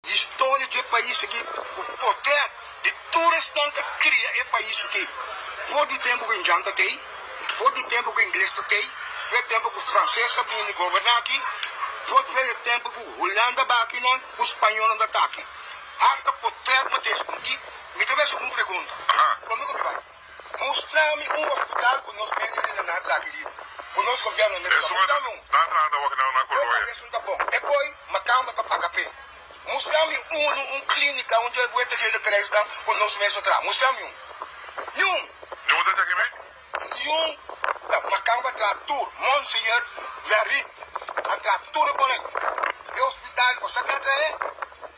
Historia di e pais aki ku poder di tur respon ta kria e pais aki for di tempu ku Indian ta tei, for di tempu ku Ingles ta tei, for e tempu ku Frances ta bini goberna aki, for for e tempu ku Hulanda ba aki nan ku Spañolnan ta ta aki. Hasta poder no ta eskuntí. Mi ta mester un pregunta, Kòmke ku mi bai? Mustrami un hospital cu nos enginenan a traha di riba. Cu nos gobierno mester ta mustrami un. Nan traha ta wak nan a Colonia. Oca esun ta bon. E coi Macamba ta paga p'e. Mustrami unu un clinica un dje buelta dje recreistan cu nos mes a traha. Mustrami un. Niun. Niun ta dje kimi? Niun. Ta Macamba a traha tur. Monseñor Verriet a traha tur e con e. E hospital, bo sa ki a traha e?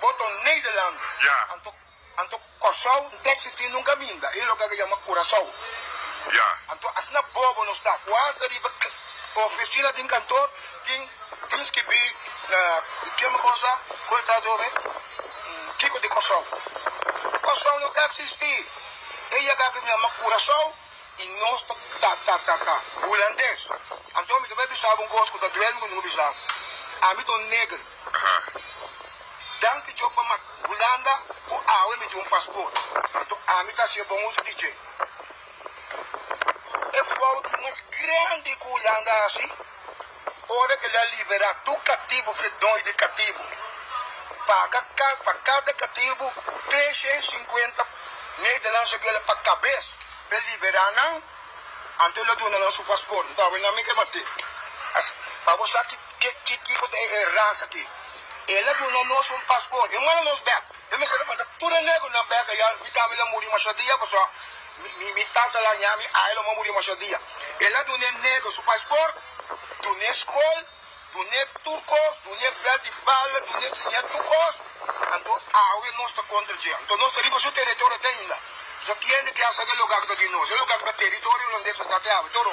Boton Nederland. Ya. Anto anto Kòrsou n'ta eksistí nunka minda. E loke ake yama Kurasou. Ya. Anto asina bobo nos ta. Kua asta riba e ofisina den kantor tin tin skibí na keme kosla ku e ta djome Kiko di Kòrsou. Kòrsou no ta eksistí. E yaka ake mi yama Kurasou. I nos ta ta ta ta ta hulandes. Anto mi ta bai bisa bo un kos ku ta duel mi kontinua bisa bo. Ami ta un neger. Danki Djop pa mak Hulanda ku awe mi tin un pasport. Anto ami ta hasié bon uso di dje. E fout mas grandi ku Hulanda a hasi Ora el a liberá tur katibu fe doi di katibu, paga pa kada katibu tresha i sinkuenta medelansha di ora pa kabes pa e liberá nan. Anto el a duna nan su pasport. Nta awe nan mi ke mat'é. Asina pa bo sa kiko ta e rans akí. El a duna nos un pasport. E manda nos bèk. E mester a manda tur e negronan beka ya, mi tata la muri masha dia pasobra mi tata la ña mi ai lo a muri masha dia. El a dun'é negro su pasport, dun'é skol, dun'é tur kos, dun'é vèt di bala, dun'é enseñ'é tur kos, anto awe nos ta kontra dje. Anto nos ta riba su teritorio te ainda. Pasobra kiende ke a sa ke loke aki ta di nos? E loke aki ta teritorio londe su tata e awe toro.